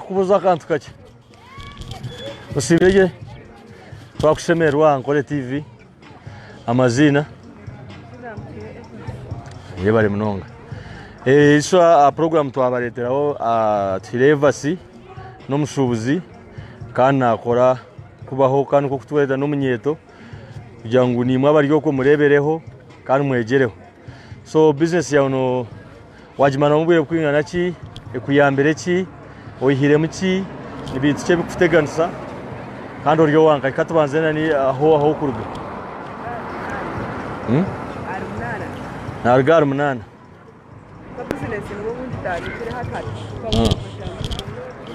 Kubuza akantu kakye osiibire gye twakushemererwa aha Nkore TV amaziina yebare munonga eh, isho a program twabareteraho tuhire evasi n'omushubuzi kandi nakora kubaho kandi niko kutwereta n'omunyeto kugira ngu nimwe abari okwo murebereho kandi mwegyereho So business yaawe no wagimaramu obwire bukwingana ki, ekuyambire ki, oyihiremu ki, ni bintu ki ebikukuteganisa kandi ori owanka. Ka tubanze nani ahu ahu okuruga. Hmm? Naruga ahari munana. Ah.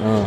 Ah.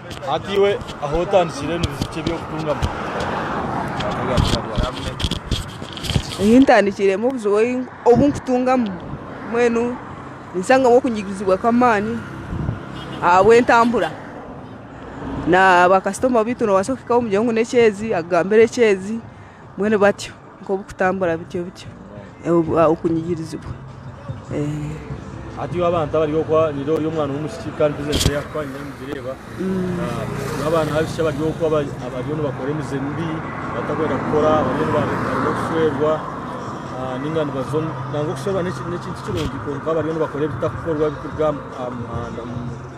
Hati iwe ahu otandikire nibijukye eby'okutungamu? Ahu ntandikiremu obuzibu obu nkutungamu mbwenu ninsangamu okunyigizibwa kw'amaani ahabw'entambura na bakasitoma baitu noobaasa kuhikaho omugyere ngu n'ekyeezi akugambire ekyeezi mbwenu batyo. Nk'obu kutambura bityo bityo okunyigirizibwa. Hati iwe abantu abari okwo nire ori omwana w'omwishiki kandi bizinesi eyi akukuha niyo nigireeba. Iwe abaana b'abishiki abari okwo abariyo nibakora emize mibi batakwenda kukora abariyo nibaremwa okushwerwa ninga nibaza omu nangwa okushwerwa n'ekintu kirungi kwonka abariyo nibakora ebitakukorwa ebikuruga aha muhanda.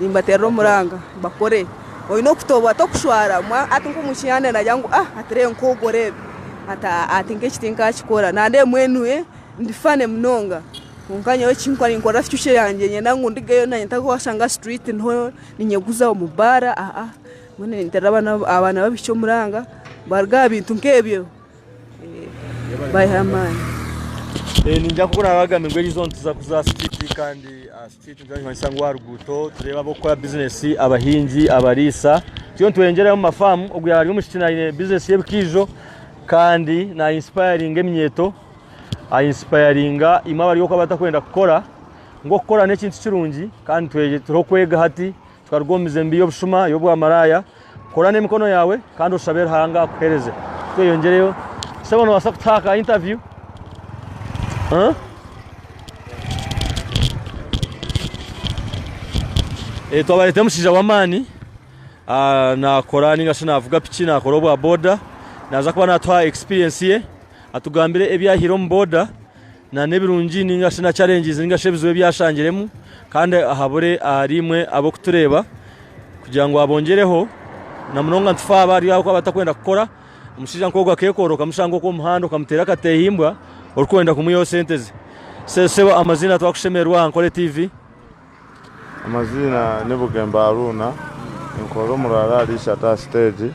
Nimbaterera omuranga bakore oyine okutoborwa tokushwara omwe ati nkomu kihanda nagira ngu ah ati rero nkogwo rero ati ah ati nkeki tinkakikora nandeba mbwenu ndi funny munonga kwonka nyowe ekinkora ninkorera future yangye niinyenda ngu ndigeyo nanye ntakuba washanga street niho ninyeguza omu bar ah ah mbwenu ninterera abaana abaana babishiki omuranga baruga aha bintu nkebyo bayiha amaani. Ningira ku oraabe agambire ngu eriizooba nituza kuza aha street kandi. Nitumanyisa ngu aha ruguuto tureeba ab'okukora bizinesi, abahingi, abariisa. Twena nitweyongyerayo omu mafaamu. Ogwo yaaba ari omwishiki aine bizinesi y'ebikaijo kandi naayinsipayaringa eminyeeto. Ayinsipayaringa imwe abari oku abatakwenda kukora. Ngu okukora n'ekintu kirungi kandi turiho kwega hati. Tukaruga omu mizembi y'obushuma, y'obwamaraaya. Kora n'emikono yaawe kandi oshabe Ruhanga akuheereze. Tweyongyereyo. Sebo noobaasa kutuha aka interview? Huh? Eh, twabareetera omushaija w'amaani ah, naakora ninga shi naavuga piki naakora obwa boda naaza kuba naatuha experience ye atugambire ebyahire omu boda nanebirungi ninga shi na challenges ninga shi ebizibu ebi ashangiremu kandi ahabure ahari imwe abokutureeba kugira ngu abongyereho na munonga nitufa abo ahari abakuba batakwenda kukora omushaija nk'ogu akekoroka okamushanga oku omuhanda okamuteera akatehimbwa orikwenda kumwihaho sente ze. Sebo amazina twakushemererwa aha Nkole TV. Amaziina ni Bugembe Haruna ninkorera omuri Arali Ishata aha siteegi.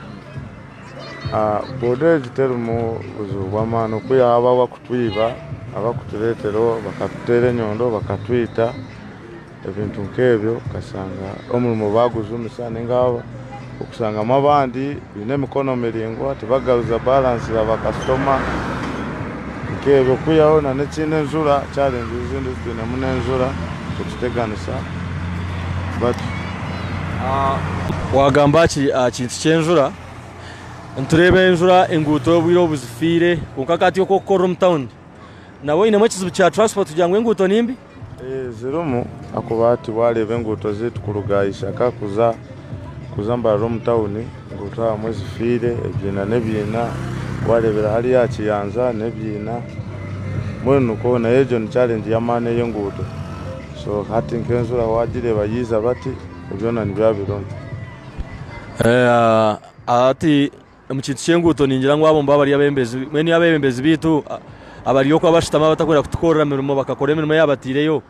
Boda egi terimu buzibu bw'amaani oku yaaba abakutwiba abakutureetera bakatuteera enyondo bakatwita ebintu nk'ebyo okashanga omurimo baagujumisa Okushangamu abandi baine emikono miraingwa tibagaruza balance ya ba customer nkebyo kwihaho na nekindi enjura challenge ezindi ezitwinemu nenjura kukiteganisa batyo. Wagamba aha kintu kyenjura nitureba enjura enguuto obwire obuzifiire kwonka hati oku okukorera omu town nabwe oyinemu ekizibu kya transport kugira ngu enguuto nimbi? Zirimu ahakuba hati waareeba enguuto zaitu kuruga aha ishaka kuza mbarara omu tawuni, enguuto ahamwe zifiire, ebiina n'ebiina, waareebera hariya aha kiyanja n'ebiina, mbwenu nikwo nayo egyo ni challenge y'amaani ey'enguuto. So hati nk'enzura waagireeba yaiza bati, ebyo byona nibiba birimu. Hati. Omu kintu ky'enguuto ningira ngu abo nibo abari abebembezi, mbwenu yaaba abebembezi baitu abari okwo abashutami abatakwenda kutukorera mirimo bakakora emirimo eyabateireyo,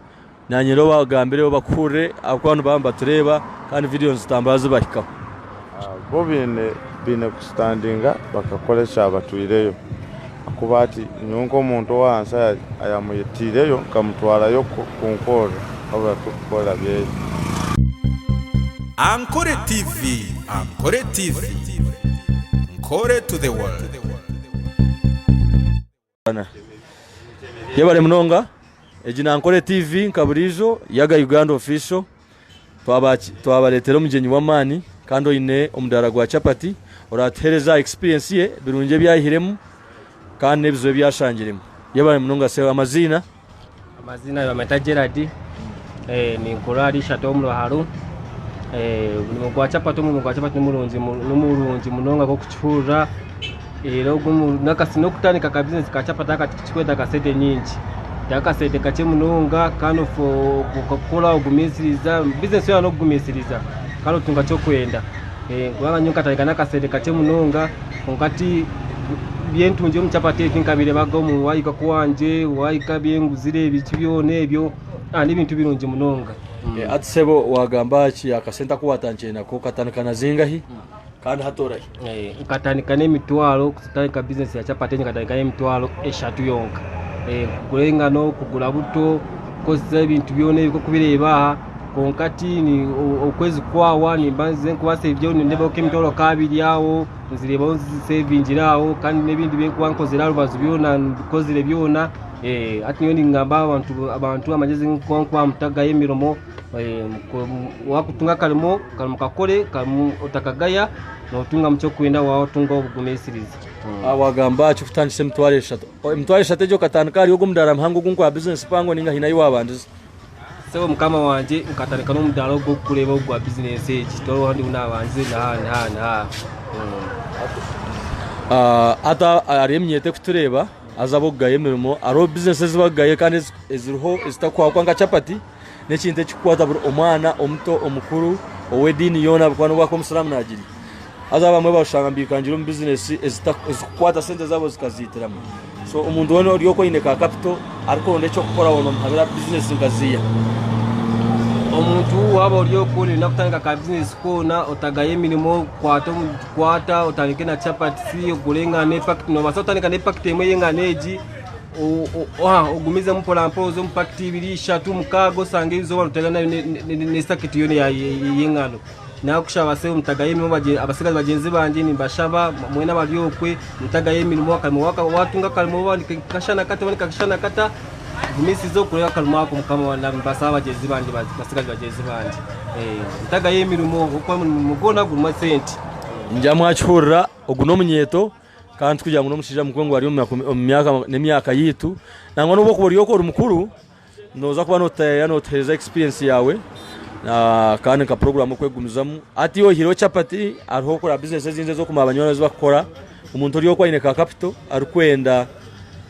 naanye rero obagambire obakuhurire ahabw'okuba nibaba nibatureeba kandi vidiyo nizitambura zibahikaho. Bo baine kustandinga bakakora ekyabatwireyo. Ahakuba ati, Nyowe nk'omuntu ow'ahansi ayamwitaireyo, nkamutwarayo kunkorera ahu bari kukorera byeye. Ankore TV Ankore TV Nkore to the world. Yebare munonga. Egi ni Ankore TV nka buriijo, Yaga Uganda Official. Twabareetera omugyenyi w'amaani kandi oine omudaara gwa chapati oraatuheereze aha experience ye, ebirungi ebi ayihiremu kandi n'ebizibu ebi ashangiremu. Yebare munonga Seo. Amaziina? Amaziina nibamweta Gerald. Eh, ninkorera ahari ishatu omu Ruharo. Eh, omurimo gwa chapati, omurimo gwa chapati ni murungi, ni murungi munonga nk'okukihurira. Reero ogu n'okutandika ka bizinesi ka chapati aka tikikwetaaga sente nyingi. Ni akasente kakye munonga kandi okakora ogumisiriza. Bizinesi yoona n'okugumisiriza kandi otunga eki orikwenda. Kubanga nyowe nkatandika n'akasente kakye munonga kwonka ti ebi ntungire omu chapati egi tinkabireebaga omu waayega ku wangye, waayega ebi nguzire biki byona ebyo. N'ebintu birungi munonga. Hati sebo waagamba ki akasente aku waatandikire nako? Okatandika na zingahi? kandi hatorahi. Nkatandika n'emitwaro kutandika bizinesi ya capati enye nkatandika n'emitwaro eshatu yonka Eh, kugura engano kugura buto kukozesa ebintu byona ebi kokubireeba aha kwonka ti ni o- okwezi kwawa nimba nze nkubaasa ebyo nindeebaho nk'emitwaro nk'abiri aho nzireebaho nzisevingire aho kandi n'ebindi bi nkuba nkozire aha rubaju byona mbikozire byona Eh, hati nyowe ningamba abantu abantu amagezi nku nkubaha mutagayo emirimo Wakutunga akarimo kakore otakagaya notungamu kyokwenda waba otunga obugumisiriza. Wagamba aha kyokutandisa emitwaro eshatu. Emitwaro eshatu egyo okatandika ahari ogwo mudaara muhango ogu nkogwa bizinesi mpango ninga haine ahu wabandize? Sebo mukama wangye nkatandika nomudaara ogu orikureeba ogu gwa bizinesi egi tiharoho ahu ndiho nabandize naha naha naha. Hati hariho eminyeeto erikutureeba haza abokugaya emirimo hariho bizinesi ezi bakugaya kandi eziriho ezitakuhwa kwonka nka chapati. N'ekintu ekikukwata buri omwana omuto omukuru ow'ediini yoona bikaba nobu akuba omusiramu nagirya. Haza abamwe barushanga nibikangire omu bizinesi ezikukwata sente zabo zikaziitiramu. So omuntu weena ori oku aine ka kapito arikuronda eky'okukora hoona omuhabira bizinesi nka ziiya. Omuntu waaba ori oku noyenda kutandika ka bizinesi koona otagayo emirimo kwata omu kwata otandike na chapatisi ogure engano epakiti nobaasa kutandika n'epakiti emwe y'engano egi Ogumizemu mporampora oze omu pakiti ibiri, ishatu, mukaaga osange eizooba rutera n'esaketi yoona ey'engano. Naakushaba Sebo mutagayo emirimo abatsigazi bagyenzi bangye nimbashaba mwena abari okwe mutagayo emirimo akarimo waatunga akarimo nikakashana kata oba nikakashana kata gumisiza okore akarimo ako Mukama nimbasaba bagyenzi bangye batsigazi bagyenzi bangye mutagayo emirimo ahabw'okuba emirimo gwona gurimu esente. Ngyaamu aha kihurira ogu n'omunyeeto. Kandi tikugira ngu n'omushaija mukuru ngu ari omu myaka n'emyaka yaitu. Nangwa n'obu orikuba ori oku ori mukuru, nooza kuba nooteera nootuheereza experience yaawe kandi nka puroguraamu okwegumizamu. Hati iwe oyihireho chapati, hariho kureba bizinesi ezindi ez'okumanya ezi barikukora. Omuntu ori oku aine ka kapito arikwenda.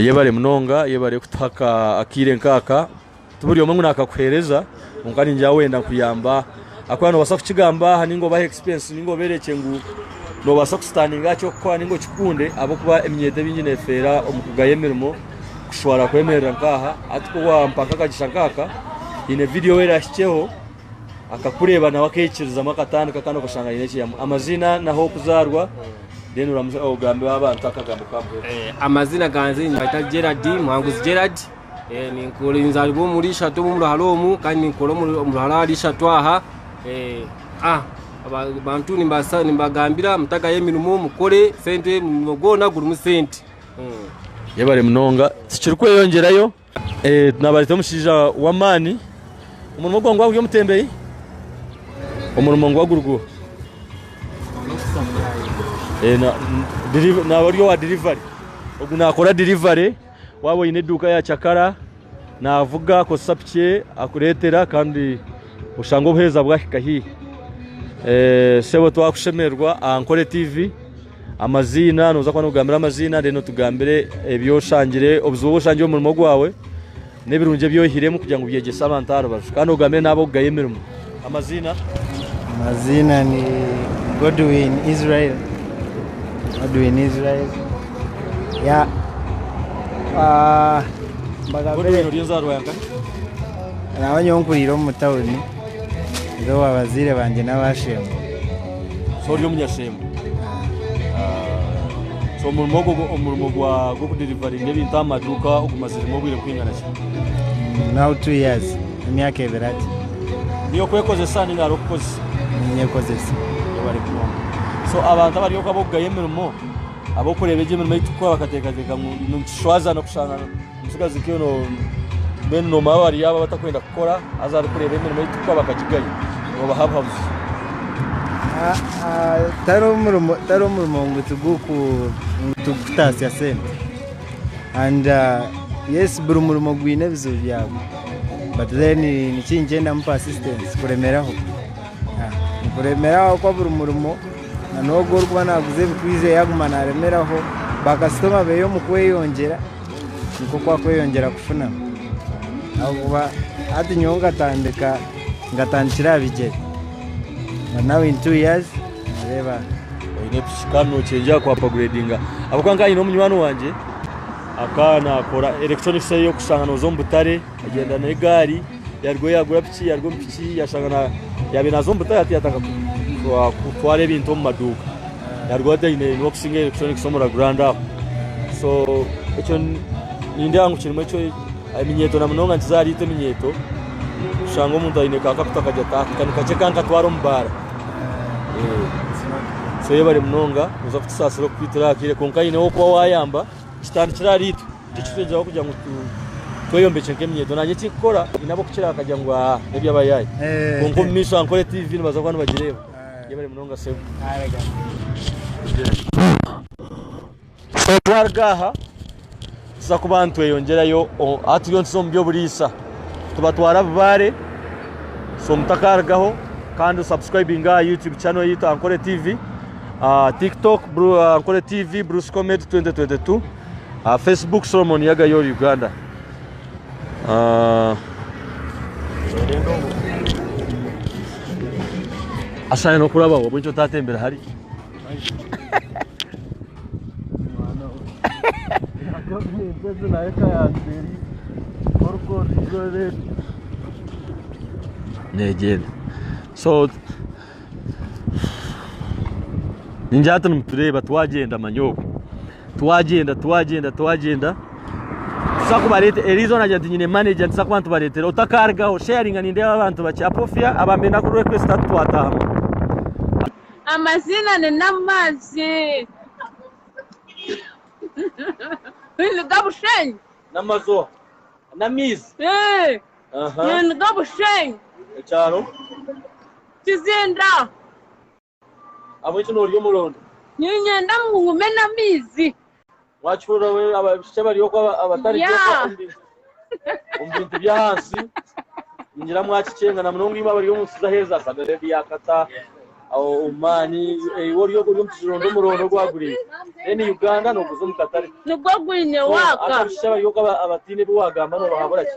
Yebare munonga yebare kutuha akaire nkaka tiburi omwe ngu nakakuhereza kwonka ningira wenda kuyamba ahakuba nobasa kukigamba aha ninga obahe experience ninga oberekye ngu nobasa ku standinga aha kyokukora ninga okikunde ahakuba eminyeeto emingi nefeera omu kugaya emirimo kushwara kwemerera nkaha hati ku wampa nkakagyesha nkaka nyine video erahikyeho. akakureeba nawe akekirizamu akatandika kandi okashanga aine ekyeyamu amazina nahokuzarwa then oramuza ogambe abantu akagambo kamwe eh, amazina ganze nibaita Gerard Muhanguzi Gerard eh, ninkora nzaribwa omuri ishatu omu ruhara omu kandi ninkora omu ruhara hari ishatu aha eh, ah abantu nimbagambira mutagayo emirimo mukore sente omurimo gwona gurimu sente hmm. yebare munonga tikirikweyongerayo Nabareeta omushaija w'amaani, omurimo gwe nigwaba guri omutembeyi, omurimo nigwaba guri gwo naaba ari owa dirivari, ogu naakora dirivari, waaba oine eduuka ya cakara naavuga akozesa piki ye akureetera kandi oshange obuheereza bwahika haihi. Sebo twakushemererwa aha Nkore TV. Amaziina, noza kuba notugambira amaziina then otugambire ebyoshangire obuzibu obwoshangire omu murimo gwawe n'ebirungi ebyoyihiremu kugira ngu byegyese abantu aha rubaju kandi ogambire n'abokugaya emirimo. Amaziina. Amaziina ni Godwin Israel. Godwin Israel. Ya. Ah, Godwin ori enzarwa yankahi? Naba nyowe nkuriire omu tawuni. Ndi ow'abazaire bangye n'abaashembo. So ori omunyashembo? So omurimo ogwo omurimo gwa gw'okudirivaringa ebintu aha maduuka ogumaziremu obwire kwingana ki? Now two years, emyaka ebiri ati Niyo okwekozesa ninga hariho okukozesa? ninyekozesa. Webare munonga. So abantu abari oku ab'okugaya emirimo, ab'okureeba egi emirimo ei turikukora bakateekateeka ngu nitushwaza na kushanga Omutsigazi Kyo no mbwenu nomara wari aba batakwenda kukora haza ari kureba emirimo ei tukukora bakagigaya nobaha buhabuzi. Tari omurimo tari omurimo ngu tiguku ngu tugukutaasya sente and yes buri murimo gwine ebizibu byagwo but then niki nikyendamu persistence kuremeraho kuremeraho kwa buri murimo na nogu orikuba naguza ebikwiza yaguma naremeraho ba kasitoma beye omu kweyongyera. nikwo oku arikweyongyera kufuna ahabw'okuba hati nyowe nkatandika nkatandikira aha bigyere na nawu ini tu yazi nooreeba oine piki kandi nookyengyera ku apaguredinga ahabw'okuba nkanye nyine munywani wangye akaba naakora erekitronikisi eyi orikushanga nooza omu butare Yagyenda n'egaari, yaruga omu yaagura piki, yaruga omu piki yashanga yaabaire naaza omu butare hati yaatandika kutwara ebintu omu maduuka. Yaruga hati aine niwokusingi electronics omu Ragurand aho. So ekyo nindeeba ngu kirimu eminyeeto na munonga nikiza ahariitwe eminyeeto kushanga omuntu aine ka kakuta akagye ati aka ni kakye kankatwara omu baara. So yebare munonga noza kutusaasira okukwitira aha kaire kwonka haine ow'okuba waayamba kitandikire ahariitwe. Tikitwegyeraho kugira ngu tweyombekye nk'emyeto. Nanye ekinkukora nyine ab'okukira bakagira ngu aa n'eby'abayaayi. Kwonka omu maisho aha nkore TV nibaza kuba nibagireeba. Yebare munonga Sebo. So twaruga aha tuza kuba nitweyongyerayo o- ahu turiyo nituza omu by'oburiisa. Tubatwara Abubaare. So mutakarugaho kandi osubscribinge aha YouTube channel yaitu Ankore TV. ah, TikTok Bru- Ankore TV Bruce Comedy 2022. aha facebook solomon yagayo ori uganda Ah, ashaye nokurabaho obwo ekyo tatembera hari gavumenti ezi nayo ekayanzeri orikondizorere negyenda so ningira hati nimutureeba twagyenda manyoowe twagyenda twagyenda twagyenda tuza kubareetera eriizooba eriizooba nagira nti nyine manager nituza kuba nitubareetera otakarugaho sharinga nindeeba abantu bakyapofya abambe naku request hati twataaha amaziina ni namaazi niga bushenyi namazooba namaizi. Aha. Niga Bushenyi. Ekyaro. Kizinda. Ahabw'enki noorya omurondo? Niinyenda ngu ngume n'amaizi. Waakihurira we abaishiki abari okwo aba- abatarigye okwo Yeah. omu bintu- omu bintu by'ahansi ningira mwakikyenga na munonga imwe abari omu nsi z'aheeza Saudi Arabia, Qatar, aho Oman, eh, iwe ori ori omu kizirondo omurondo ogwaguriire then Uganda nooguza omu katare. Nigwo gwine So, hati waaka. abaishiki abari okwo aba- abataine ebi waagamba noobahabura ki?